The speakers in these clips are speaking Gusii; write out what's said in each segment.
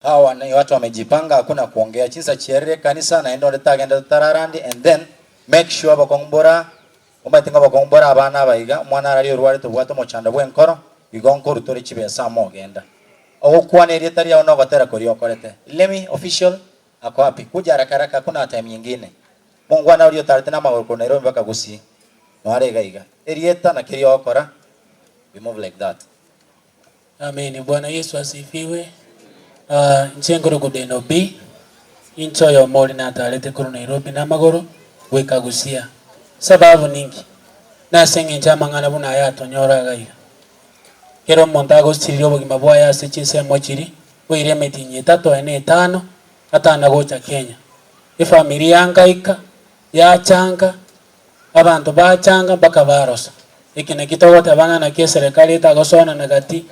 How an igo atwa amejipanga ako na kwongea chinsa chiarire ekanisa naende onde tagende totararandie and then make sure abakong'u bora omanyete ng'a abakong'u bora abana aba iga omwana araria orwarete obwate omochando bw'enkoro igo nkoruta ore chibesa amo ogenda ogokwana erieta riao na ogotera koria okorete Lemi official ako happy kuja haraka haraka hakuna time nyingine mongwana oria otarete namagoro korwa Nairobi mpaka Gusii noare iga iga erieta na keria ogokora we move like that. Ameni bwana yesu asifigwe. Aah inche nkore good NOB, inche oyomo ore natarete korwa Nairobi namagoro goika Busia. Sababu ninki? Nase engencho amang'ana buna aya atonyora agaiga. Kera omonto agosiriria obogima bwaye ase chinsemo chiri koira emetinyi etato aye na etano atana gocha Kenya. Efamiri yangaika, yachanka, Abanto bachanga mpaka barosa. Eki nakio togoteba ng'a naki eserekari etagosoanana gati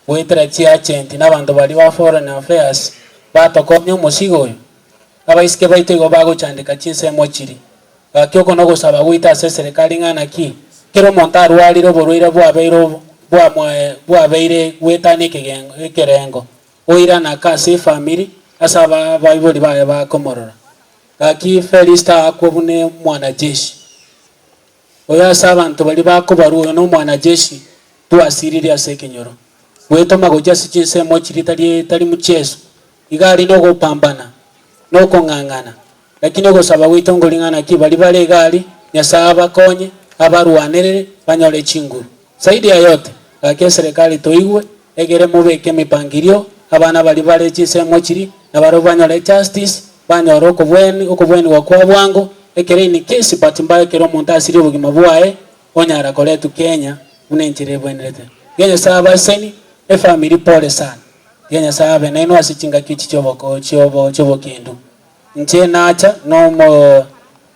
goetera chiagenti na abanto baria ba Foreign Affairs batokonya omosigo oyo? Abaiseke baito igo bagochandeka chinsemo chiria. Gaki oko nogosaba goita ase eserekari ng'a naki kera omonto arwarire oborwaire bwabeire ob bwamoe bwabeire goetania ekegengo ekerengo oirane aka ase efamiri ase aba abaibori baye bakomorora. Gaki Felisiti agakwa buna omwanacheshi, oyo ase abanto baria bakobarwa oyo nomwanacheshi twasiirire ase ekenyoro. Gwetoma gochia ase chinsemo chiria tari etari muchiesu, iga aria nogopambana, nokong'ang'ana, lakini ogosaba gwaito ngoring'ana ki baria bare iga aria, Nyasae abakonye, abarwanerere, banyore chinguru. Zaidi ya yote, gaki eserekari toigwe, egere mobeke emipangirio, abana baria bare chinsemo chiria nabarabwo banyore justice, banyore okobwani, okobwanigwa kwa bwango, ekero in case but mbae ekero omonto asirie obogima bwaye, onyara koretwa Kenya buna enchera ebwenerete. Iga Nyasae abe aseni, efamiri pole sana. Iga Nyasae abe nainwe ase chingaki echi chioboko, chiobo, chiobokendu. Inche nacha nomo.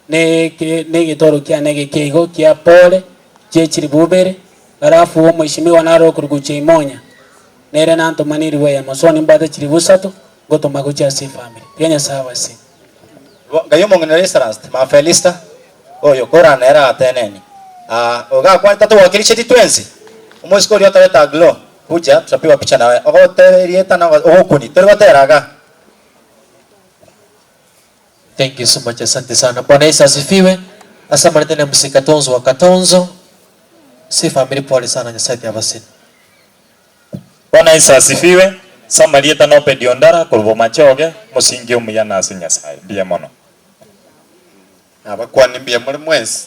Negetoro kiane ege keigo kia pole chie chilifu ibere, barafu omoichimiwa naro okorugucha imonya. Nere nantoma nirue ya mosoni mbwate chilifu isato, ngotoma gochia ase efamiri ya Nyasae Abaseni. Bo ngai omong'ina Lysiranst Maphelista, oyo korana nere agatenenia, Aa, oyo gakwanete atogwakiricheti twensi? Omosike oria otarete aglo, kuja, tutapigwa picha nawe, ogote erieta na ogokuoni, tori gotera iga. Thank you so much asante sana bwana yesu asifiwe ase amaretena ya mzee katonzo wa katonzo ase efamiri pole sana nyasaye ati abaseni. Bwana Yesu asifiwe, ase amarieta na Obedi Ondara korwa Bomache Oge, omosingi omuya na ase Nyasae. Mbuya mono. Nabakwani mbuya more mwensi.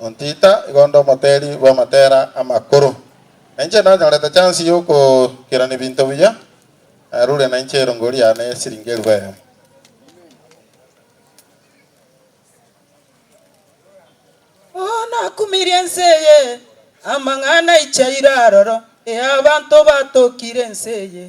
Ontiita igo onde omoteeri bw'amatera amakoro, na inche nanyorete chansi y'okokerana ebinto buya, narure na inche erongo riane esiringi elifu eyemo. Oo nakumirie ense eye amang'ana aichaire aroro, ee abanto batokire ense eye.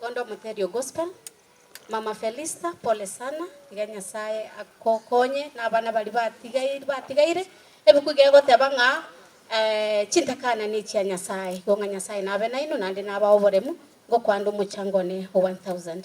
Bondo Muterio Gospel. Mama Felista pole sana, iga Nyasaye agokonye na abana baria batigaire batigaire. Ebuku iga egoteba ng'a chintakana nechia Nyasaye, igo ng'a Nyasaye nabe nainwe naende nabae oboremu, ngokwanda omochango one o 1000.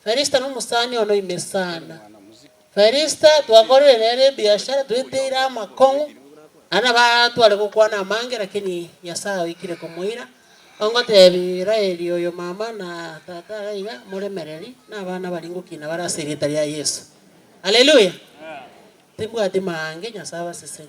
Felista nomosani one oime sana. Felista twakorire nere ebiashara tweteire amakong'u, aria nabo atware gokwana amange lakini Nyasae oikire komoira, ongotebi Raeli oyo mama na tata are iga, moremereri, na abana baria ngokina bare ase erieta ria Yeso. Haleluya! Timbwati maange, Nyasae abaseseni.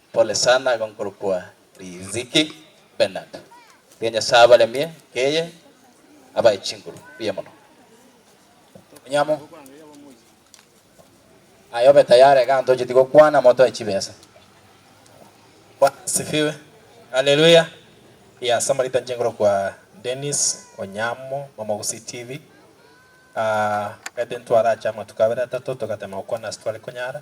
Pole sana igo nkorokwa Riziki Bernard. Mbuya Nyasaye abaremie nkeye abae chinguru mbuya mono. Onyamo, aye obe tayari egento ocheti gokwana motoe chibesa. Bwana asifiwe. Haleluya. Ee ase amarita inche nkorokwa Dennis Onyamo mama Gusii TV. Aa, omanyete intwarache amatuko abere atato togatema gokwana ase tware konyara.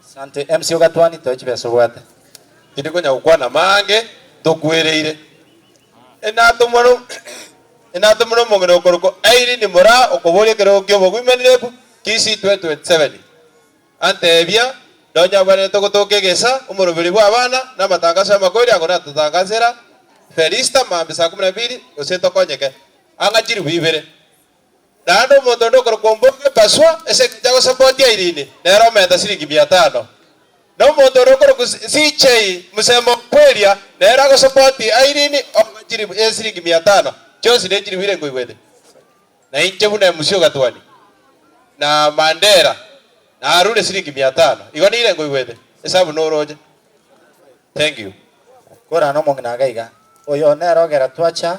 Asante MC ogatwani toe chibesa obwate. Tindi konya gokwana amaange tokwereire. Enatomware enatomire omong'ina okorokwa Aileen moraa okoboria ekerogo ki'oboguimanireku Kisii 2027. Anteebia, Nonye abwenerete gotooka egesa, omoroberi bw'abana, na amatangaso y'amakoori ago natotangasera Felista mambia saa kumi na ibiri gose tokonyeke. Ang'a chiribu ibere. Naende omonto onde okorokwa Ombogo Epasua, ase engencho agosapotia Irene, nere omenta siringi mia tano. Na omonto onde okorokwa CJ Musemo o Kweria, nere agosapotia Irene omobe chilifu e siringi mia tano, chionsi ne chilifu irengo igwete. Na inche buna emusi o Gatuani na Mandera, narure siringi mia tano, igo nirengo igwete, esabu noroche. Thank you. Korana omong'ina agaiga, Oyo nere ogera twacha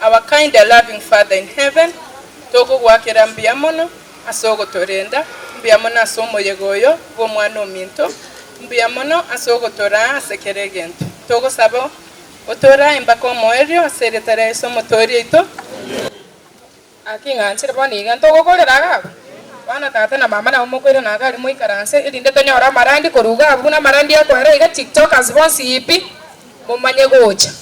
Our kind and loving Father in Heaven, togogoakera mbuya mono ase ogotorenda, mbuya mono ase omoyega oyo bw'Omwana ominto, mbuya mono ase ogotoraa ase kera egento. Togosaba otoraa embaka omoerio ase erieta ria Yeso Omotooria oito. Gaki ing'anchire bono iga ntogokorera iga abwo, bono tata na mama nabo mokoira na iga aria moikaranse, erinde tonyore amarandi korwa iga abwo, buna amarandi akoera iga, TikTokers bonsi pi, momanye gocha.